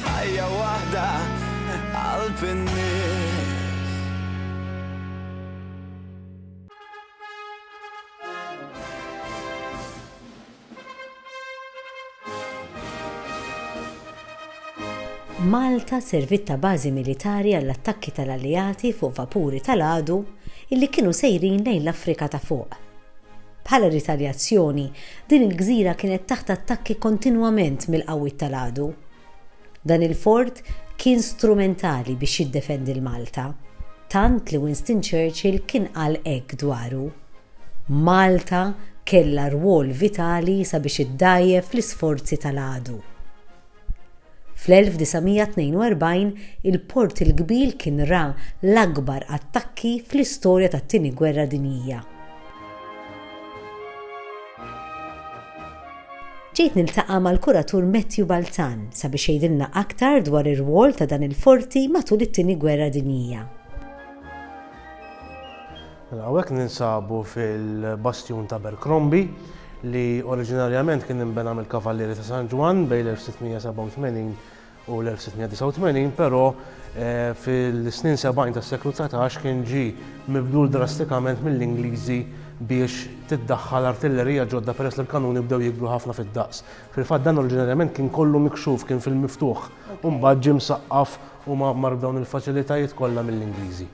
Ħajja waħda qalb in-nies. Malta serviet ta' bażi militari għall-attakki tal-Alleati fuq vapuri tal-għadu illi kienu sejrin lejn l-Afrika ta' Fuq. Bħala ritaljazzjoni, din il-gżira kienet taħt attakki kontinwament mill-qawwiet tal-għadu. Dan il-fort kien strumentali biex jiddefendi 'l Malta, tant li Winston Churchill kien qal hekk dwaru, Malta kellha rwol vitali sabiex iddgħajjef l-isforzi tal-għadu. Fl-1942, il-Port il-Kbir kien ra l-akbar attakki fl-istorja tat-Tieni Gwerra Dinjija. Ġejt niltaqa' mal-kuratur Matthew Balzan sabiex jgħidilna aktar dwar ir-rwol ta' dan il-forti matul it-Tieni Gwerra Dinjija. Mela hawnhekk ninsabu fil-Bastjun t'Abercrombie li oriġinarjament kien inbena mill-Kavallieri ta' San Ġwann bejn l-1687 u l-1689 però fil-snin sebgħin tas-seklu dsatax kien ġie mibdul drastikament mill-Ingliżi biex tiddaħħal artillerija ġodda peress li l-kanuni bdew jikbru ħafna fid-daqs. Fil-fatt dan oriġinarjament kien kollu mikxuf, kien fil-miftuħ u mbagħad ġie msaqqaf u mgħammar b'dawn il-faċilitajiet kollha mill-Ingliżi.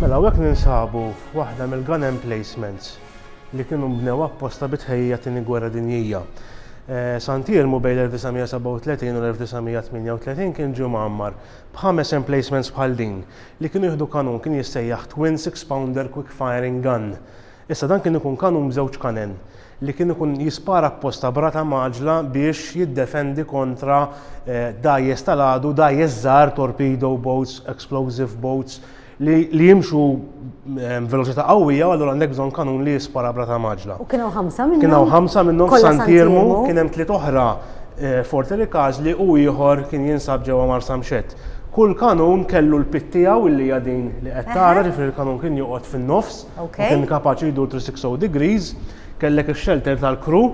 Mela hawnhekk ninsabu f'waħda mill-gun emplacements li kienu nbnew apposta bi tħejjija t-Tieni Gwerra Dinjija. Eh, Sant Irmu bejn l-1937 u l-1938 kien ġie mgħammar b'ħames emplacements bħal din li kienu jieħdu kanun kien jissejjaħ Twin Six Pounder Quick Firing Gun Issa dan kien ikun kanun b'żewġ kanen, li kien ikun jispara apposta b'rata mgħaġġla biex jiddefendi kontra dgħajjes tal-għadu, dgħajjes żgħar, torpedo boats, explosive boats, li li jimxu b'veloċità qawwija u allura għandek bżonn kanun li jispara b'rata mgħaġġla. U kien hawn ħamsa minnhom? Kien hawn ħamsa minnhom f'San Tiermu, kien hemm tliet oħra f'Forte Ricasli u ieħor kien jinsab ġewwa Marsamxett. Kull kanun kellu l-pit tiegħu li hija din li qed tara, ġifieri l-kanun kien joqgħod fin-nofs, u kien kapaċi jdur 360 degrees, kellek ix-xelter tal-kru,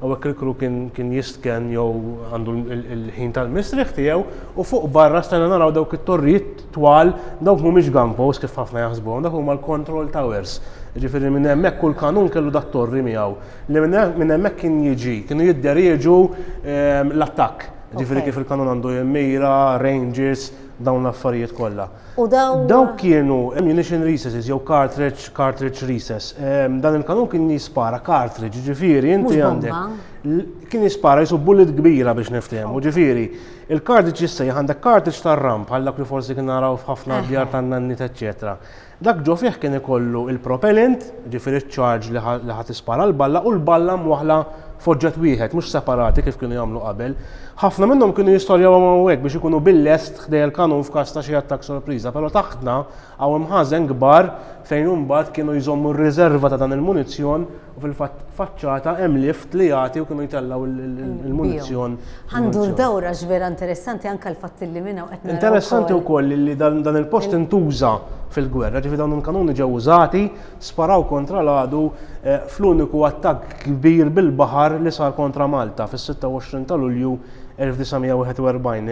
hawnhekk il-kru kien jistken jew għandu l-ħin tal-mistrieħ tiegħu, u fuq barra stajna naraw dawk it-torrijiet twal, dawk mhumiex gun posts kif ħafna jaħsbuhom, dak huma l-control towers. Jiġifieri minn hemmhekk kull kanun kellu dat-torri miegħu, li minn hemmhekk kien jiġi, kienu jidderieġu ehm, l-attakk. Jiġifieri kif il-kanun għandu jimmira, ranges, dawn l-affarijiet kollha. U dawn. Dawk kienu ammunition recesses jew cartridge, cartridge recess. Ehm, dan il-kanun kien jispara cartridge, ġifieri inti għandek. Kien jispara jisu bullet kbira biex niftehmu, ġifieri il-cartridge jissejjaħ għandek cartridge tar-ram bħal dak li forsi kien naraw f'ħafna djar tan-nannit eċċetera. Dak ġo fih kien ikollu il-propellant, ġifieri ċ-charge li ħadd ispara l-balla u l-balla mwaħla foġġet wieħed, mhux separati kif kienu jagħmlu qabel. Ħafna minnhom kienu jistorjaw hawn hekk biex ikunu bil-lest ħdejja l-kanun f'każ ta' xi attakk sorpriża, però taħtna hawn hemm ħażen kbar fejn imbagħad kienu jżommu r-riżerva ta' dan il-munizzjon u fil-fatt faċċata hemm lift li jagħti u kienu jtellgħu l-munizzjon. Ħa ndur dawr għax vera interessanti anke l-fatt li minn hawn qed naraw. Interessanti wkoll li dan il-post intuża fil-gwerra, ġifieri dawn il-kanuni ġew użati, sparaw kontra l-għadu fl-uniku attakk kbir bil-baħar li sar kontra Malta fis-26 ta' Lulju 1941,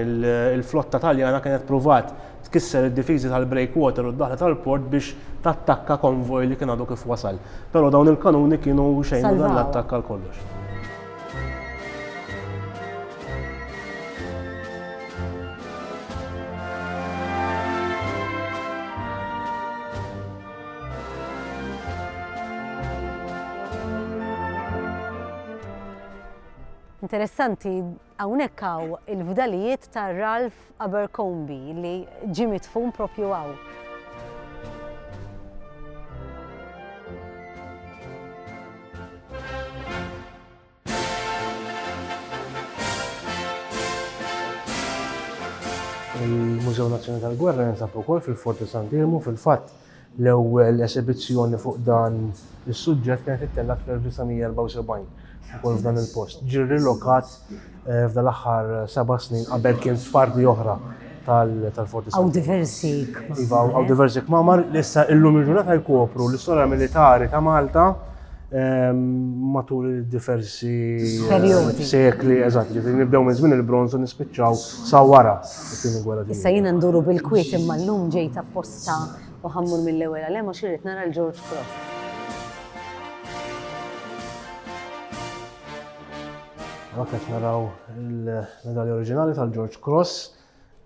il-flotta Taljana kienet pruvat tkisser id-difiżi tal-breakwater u d-daħla tal-port biex tattakka konvoj li kien għadu kif wasal. Però dawn il-kanuni kienu xejn u dan l-attakk għal kollox. Interessanti, hawnhekk hawn il-fdalijiet ta' Ralph Abercomby li ġie midfun propju hawn. Il-Mużew Nazzjonali tal-Gwerra jinsab ukoll fil-Fort ta' San Dirmu fil-fatt L-ewwel esibizzjoni fuq dan is-suġġett kienet ittellgħet fl-1974, ukoll f'dan il-post. Ġie rrilokat f'dan l-aħħar seba' snin, qabel kien f'parti oħra tal-Forti Sant'Eġidio. Hawn diversi kmamar. Iva, hawn diversi kmamar li issa illum il-ġurnata jkopru l-istorja militari ta' Malta matul diversi sekli, eżatt, ġifieri nibdew minn żmien il-Bronż u nispiċċaw sa wara t-Tieni Gwerra Dinjija. Issa jiena nduru bil-kwiet imma llum ġejt apposta. Ta' u ħa mmur mill-ewwel għal hemm għax irrid nara l George Cross. Għak qed naraw il-medalja oriġinali tal-George Cross,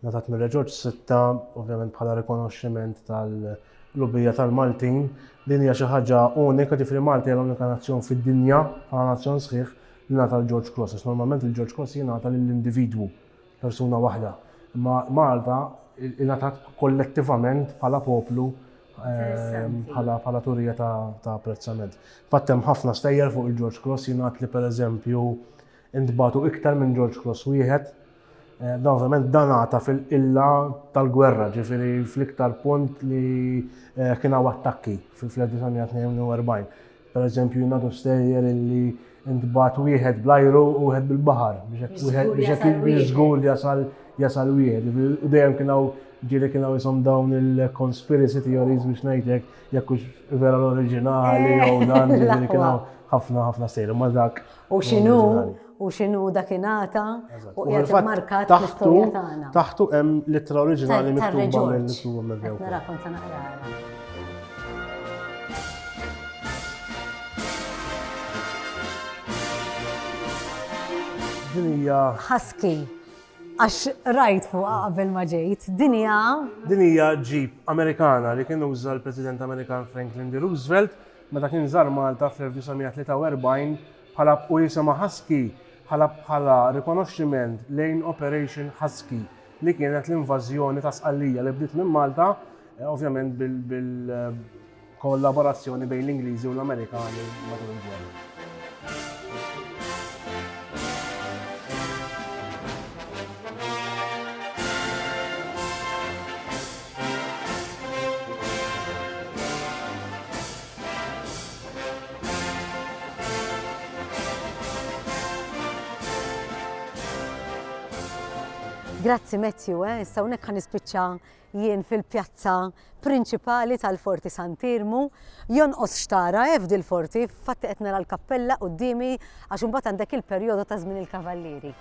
natat mir George Sitta, ovvjament bħala rikonoxximent tal-lubija tal-Maltin. Din hija xi ħaġa unika ġifri Malti għal unika nazzjon fid-dinja, bħala nazzjon sħiħ li nata l-George Cross. Normalment il-George Cross jingħata lill-individwu persuna waħda, imma Malta ingħatat kollettivament bħala poplu bħala turija ta' apprezzament. Fatt hemm ħafna stejjer fuq il-George Cross jingħad li pereżempju intbatu iktar minn George Cross wieħed. Eh, dan ovvjament dan għata fil-qilla tal-gwerra, ġifiri fl-iktar punt li eh, kien hawn attakki fil-1942. Pereżempju, jingħadu stejjer li ntbagħat wieħed bl-ajru u wieħed bil-baħar biex hekk żgur li jasal jasal wieħed. U dejjem kien hawn ġieli kien hawn isom dawn il-conspiracy theories biex ngħidlek jekk hux vera l-oriġinali jew dan ġieli kien hawn ħafna ħafna stejjer. Ma dak U x'inhu u x'inhu dak ingħata u qiegħed immarkat fl-istorja tagħna. Taħtu hemm l-ittra oriġinali miktuba mill-Ismu Meddew. Narakom ta' naqra. Dinija. Husky. Għax rajt fuq qabel ma ġejt. Dinija. Dinija ġip Amerikana li kien uża l-President Amerikan Franklin D. Roosevelt Meta kien żar Malta fl-1943, ħalab u jisimha Husky ħalab bħala rikonoxximent lejn Operation Husky li kienet l-invażjoni ta' Sqallija li bdiet minn Malta, ovvjament bil-kollaborazzjoni bejn l-Ingliżi u l-Amerikani matul il-gwerra. Grazzi Matthew, eh? issa unek ħan ispiċċa jien fil-pjazza prinċipali tal-Forti Sant'Irmu. Jonqos xtara eh, f'dil forti fatti qed nara l-kappella qudiemi għax imbagħad għandek il-perjodu ta' żmien il-Kavallieri.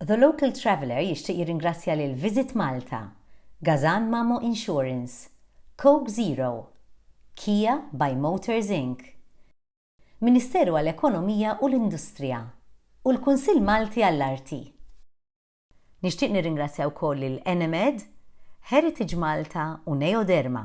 The Local Traveller jixtieq jirringrazzja lil Visit Malta, Gazan Mamo Insurance, Coke Zero, Kia by Motors Inc, Ministeru għall-Ekonomija u l-Industrija, u l-Kunsill Malti għall-Arti. Nixtieq nirringrazzja wkoll lil Enemed, Heritage Malta u Neoderma.